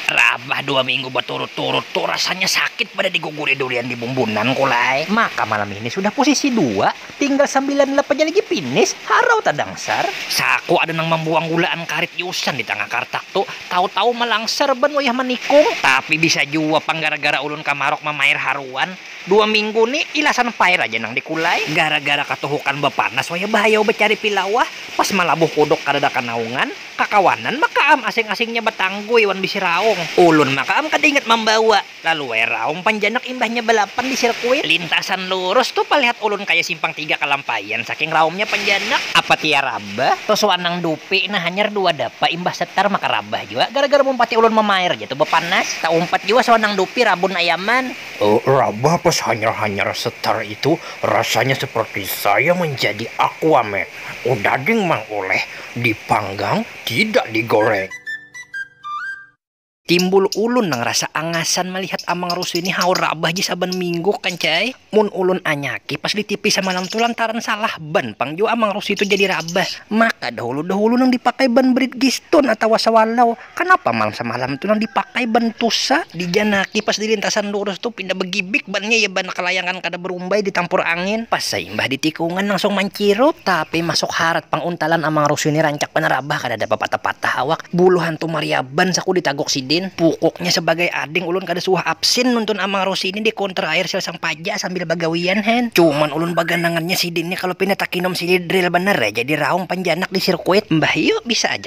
Rabah dua minggu baturut-turut tu rasanya sakit pada diguguri durian di bumbunan kulai. Maka malam ini sudah posisi dua, tinggal sambilan lap aja lagi finish, harau tadangsar. Saku ada nang mambuang gulaan karit iusan di tangah kartak tu, tahu-tahu malangsar ban wayah manikung. Tapi bisa jua pang gara-gara ulun kamaruk mamair haruan, Dua minggu ni ilasan pair aja nang dikulai. Gara-gara katuhukan bapanas wayah bahayau bacari pilawah, pas malabuh kuduk kadada kanaungan, kakawanan makaam asing-asingnya batanggui wan bisi raung. Ulun makaam kada ingat mambawa, lalu wayah raung panjanak imbahnya balapan di sirkuit. Lintasan lurus tu palihat ulun kaya simpang tiga kalampaian saking raumnya panjanak. Apa tia rabah, tusuan nang dupi nah hanyar dua dapa imbah setar maka rabah jua gara-gara mumpati ulun mamair ja tu bapanas. Taumpat jua suan nang dupi rabun ayaman. Rabah pas hanyar-hanyar setar itu rasanya seperti saya menjadi aquaman, udah ding mang oleh dipanggang tidak digoreng. Timbul ulun nang rasa angasan malihat amang rusu ini haur rabah ja saban minggu kancai, mun ulun anyaki pas di tipi samalam tu lantaran salah ban pang jua amang rusu itu jadi rabah, maka dahulu-dahulu nang dipakai ban bridgestone atawa swallow. Kanapa malam samalam tu nang dipakai ban tusa dijanaki pas di lintasan lurus tu pinda bagibik bannya ya ban kalayangan kada barumbai ditampur angin pas saimbah di tikungan langsung mancirup tapi masuk harat pang untalan amang rusu ni rancak banar abah kadada bapatah-patah awak bulu hantu mariaban saku ditaguk sidin pukuknya sabagai ading ulun kada suah absin nuntun amang rusi ni di counter air sel sang paja sambil bagawian hen cuman ulun baganangannya sidin ni kalo pina takinum sidin drill banar jadi raung panjanak di sirkuit mbah yu bisa aja.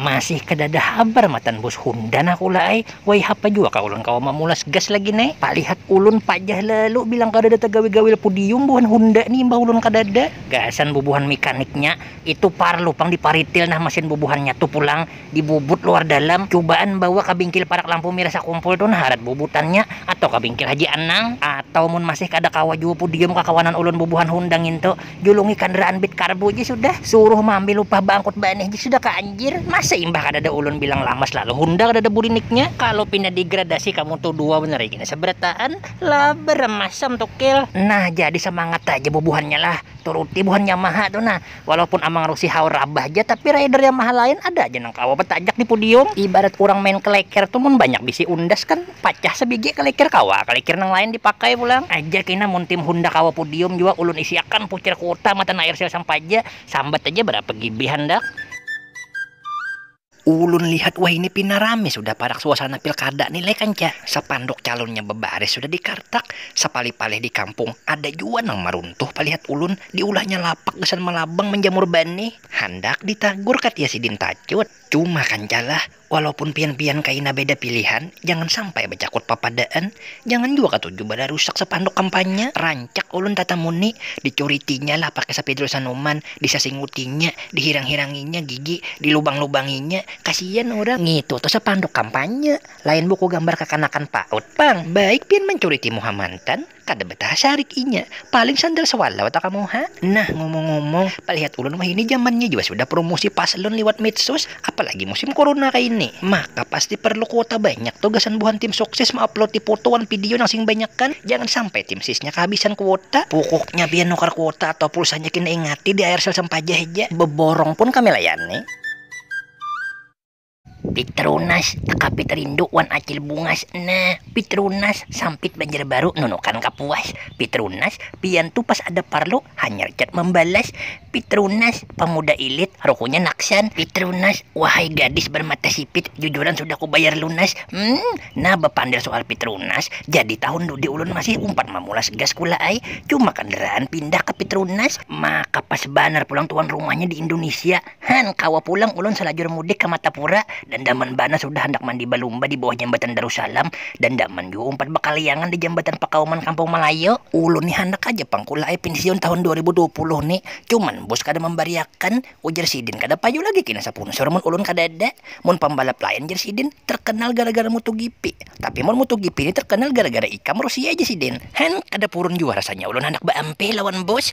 Masih kadada habar matan bus Honda nah kula ai, waihapa jua kah ulun kawa mamulas gas lagi ne, palihat ulun pajah lalu bilang kadada tagawi gawil pudium buhan Honda ni imbah ulun kadada, gasan bubuhan mikaniknya, itu parlu pang diparitil nah masin bubuhannya tu pulang, dibubut luar dalam, cubaan bawa ka bingkil parak lampu mirah sakumpul tu nah harat bubutannya, atau ka bingkil Haji Anang, atau mun masih kada kawa jua pudium kakawanan ulun bubuhan Honda ngintu. Julungi kandaraan bit karbu ji sudah, suruh maambil upah baangkut banih ji sudah ka anjir, masa imbah kadada ulun bilang lamas lalu hunda kadada buriniknya, kalu pina digradasi kamu tu dua banar ikina sabarataan, labar am masam tukil. Nah jadi samangat haja bubuhannya lah, turuti buhan Yamaha tu nah, walaupun Amang Rusi haur rabah ja tapi rider Yamaha lain ada aja nang kawa batajak di pudium, ibarat urang main keleker tu mun banyak bisi undas kan. pacah sabigi kalikir kawa kalikir nang lain dipakai pulang aja kina mun tim honda kawa pudium jua ulun isi akan pucir kuota matan air sel sampaja sambat aja barapa gb handak ulun lihat wahini pina rame sudah parak suasana pilkada ni leh kanca sapanduk calunnya babaris sudah dikartak sapalih palih di kampung ada jua nang maruntuh palihat ulun diulahnya lapak gasan malabang manjamur banih handak ditagur katia sidin tacut cuma kanca lah Walaupun pian-pian kaina beda pilihan, jangan sampai bacakut papadaan, jangan jua katuju banar rusak sapanduk kampanye, rancak ulun tatamu ni, dicuritinya lah pakai sapidul sanuman, disasingutinya, dihirang-hiranginya gigi, dilubang-lubanginya, kasian urang. Ngitu tu sapanduk kampanye, lain buku gambar kakanakan paut pang, baik pian mancuriti muha mantan. Kada betah sarik inya. Paling sandal sewalau ta kamu ha. Nah ngomong-ngomong, palihat ulun wahini jamannya jua sudah promosi paslon liwat medsos, apalagi musim corona kaini. Maka pasti perlu kuota banyak tu gasan buhan tim sukses meuploadi foto wan video nang sing banyakan. Jangan sampai tim sisnya kehabisan kuota. Pukuknya pian nukar kuota atau pulsanya kena ingati di aircell sampaja haja. Beborong pun kami layani. Pitrunas, Akapit rindu wan Acil Bungas nah. Pitrunas, Sampit Banjarbaru nunukan kapuas. Pitrunas, Pian tu pas ada parlu hanyar chat mambalas. Pitrunas, Pamuda ilit rukunya naksan. Pitrunas, Wahai gadis barmata sipit jujuran sudah kubayar lunas. Mmm, nah bapandir sual Pitrunas, jadi tahun dudi ulun masih umpat mamulas gas kula ai. Cuma kandaraan pindah ka Pitrunas. Maka pas banar pulang tuan rumahnya di Indunisia. Han, kawa pulang ulun salajur mudik ka Matapura. Dandaman banar sudah handak mandi balumba di bawah Jambatan Darussalam. Dandaman jua umpat bakaliangan di Jambatan Pakauman Kampung Malayu. Ulun ni handak haja pang kula ai pinsiun tahun dua ribu dua puluh ni. Cuman bus kada mambariakan, ujar sidin. Kada payu lagi kina sapunsur mun ulun kadada. Mun pambalap lain, jar sidin, tarkanal gara-gara MotoGP. Tapi mun MotoGP ni tarkanal gara-gara ikam, Rusia, jar sidin. Han, kada purun jua rasanya ulun handak baampih lawan bus.